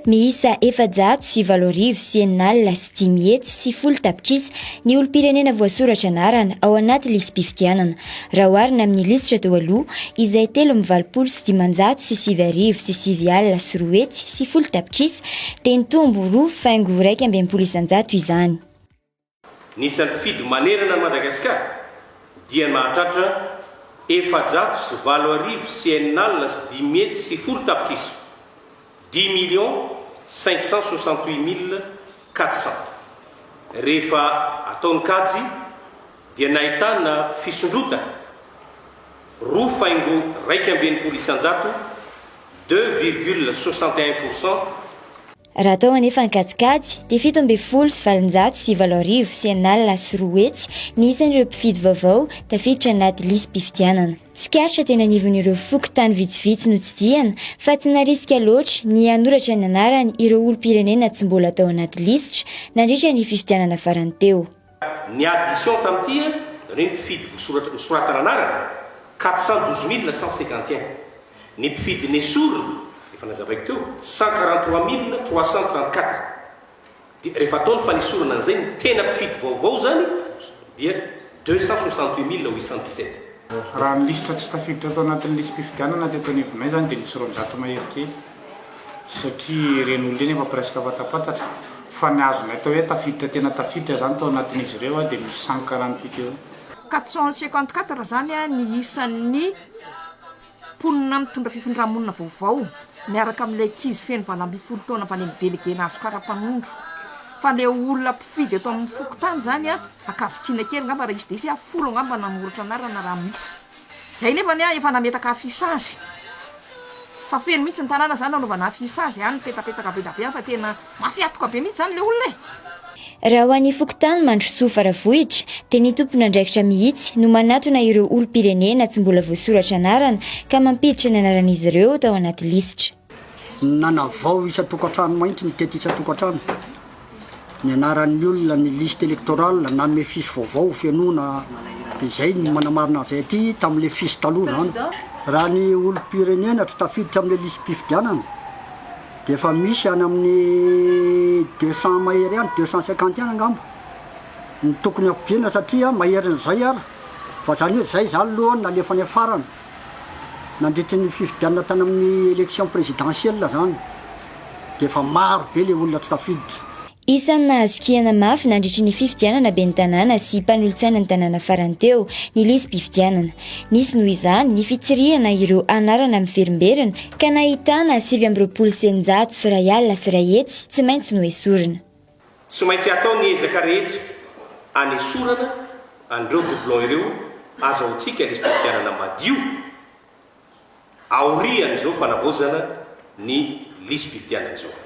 Miisa efajato sy valo arivo sy enina alina sy dimy hetsy sy folo tapitrisa ny olom-pirenena voasoratra anarana ao anaty lisi-pifidianana raha oharina amin'ny lisitra teo aloha izay telo amin'ny valopolo sy dimanjato sy sivy arivo sy sivy alina sy roa hetsy sy folo tapitrisa dia nitombo roa faingo iraika amby enimpolo isanjato izany. Ny isampifidy manerana an'i Madagasikara dia mahatratra efajato sy valo arivo cnal sy dimy hetsy sy folo tapitrisa, dix millions cinq cent soixante huit mille quatre cents. Rehefa atao ny kajy dia nahitana fisondrotana roa faingo iraika amby enimpolo isanjato, deux virgule soixante et un pour cent, Raha tao anefa Ankadikady dia fito ambin'ny folo sy valonjato sy valo arivo sy enina alina sy roa hetsy ny isan'ireo mpifidy vaovao tafiditra anaty lisi-pifidianana. Tsikaritra teny anivon'ireo fokontany vitsivitsy notsidihana fa tsy narisika loatra ny hanoratra ny anarany ireo olom-pirenena tsy mbola tao anaty lisitra nandritra ny fifidianana farany teo. Ny addition tamin'ity an, reny mpifidy vosoratry nosoratana anarana, quatre cent douze mille cent cinquante et un. Ny mpifidy nesorina, efa nazavaiko teo, cent quarante trois mille trois cent trente quatre. Dia rehefa atao ny fanesorana an'izay, ny tena mpifidy vaovao izany dia deux cent soixante huit mille huit cent dix sept. Raha ny lisitra tsy tafiditra tao anatin'ny lisi-pifidianana teto anivonay izany dia nisy roanjato mahery kely. satria ireny olona ireny efa presque fantampantatra fa ny azonay atao hoe tafiditra tena tafiditra zany tao anatin'izy ireo aho dia misy sankana ny piqûre. Quatre cent cinquante quatre zany ny isan'ny mponina mitondra fifindra-monina vaovao miaraka amin'ilay ankizy feno valo ambin'ny folo taona avy any amin'ny délégué nazy kara-panondro fa ilay olona mpifidy eto amin'ny fokontany zany an, ankavitsiana kely angamba raha hisy dia hisy, folo angamba nanoratra anarana raha misy. Zay nefa anie efa nametaka affichage fa feno mihitsy ny tanàna zany nanaovana affichage any mipetapetaka bedabe any fa tena mafy atoka be mihitsy zany le olona e! Raha ho an'ny fokontany Mandrosoa Faravohitra dia ny tompon'andraikitra mihitsy no manatona ireo olom-pirenena tsy mbola voasoratra anarana ka mampiditra ny anaran'izy ireo tao anaty lisitra. Nanavao isan-tokantrano mahitsy ny tety isan-tokantrano, ny anaran'ny olona, ny liste électorale, nanome fiche vaovao ho fenoina, dia izay no manamarina an'izay aty tamin'ilay fiche taloha izany. Raha ny olom-pirenena tsy tafiditra amin'ilay lisi-pifidianana dia efa misy any amin'ny deux cents mahery any, deux cent cinquante any angamba ny tokony hampidirina satria maherin'izay ary, fa izany hoe izay izany aloha no nalefa any afarany. nandritry ny fifidianana tany amin'ny élection présidentielle izany dia efa maro be ilay olona tsy tafiditra. Isan'ny nahazokiana mafy nandritry ny fifidianana ben'ny tanàna sy mpanolotsainan'ny tanàna farany teo ny lisi-pifidianana. Nisy noho izany ny fitsirihana ireo anarana miverimberina ka nahitana sivy amby roapolo sy eninjato sy iray alina sy iray hetsy tsy maintsy noesorina. Tsy maintsy atao ny ezaka rehetra hanesorana an'ireo doublons ireo azahoantsika ny fifidianana madio aorian'izao fanavaozana ny lisi-pifidianana izao.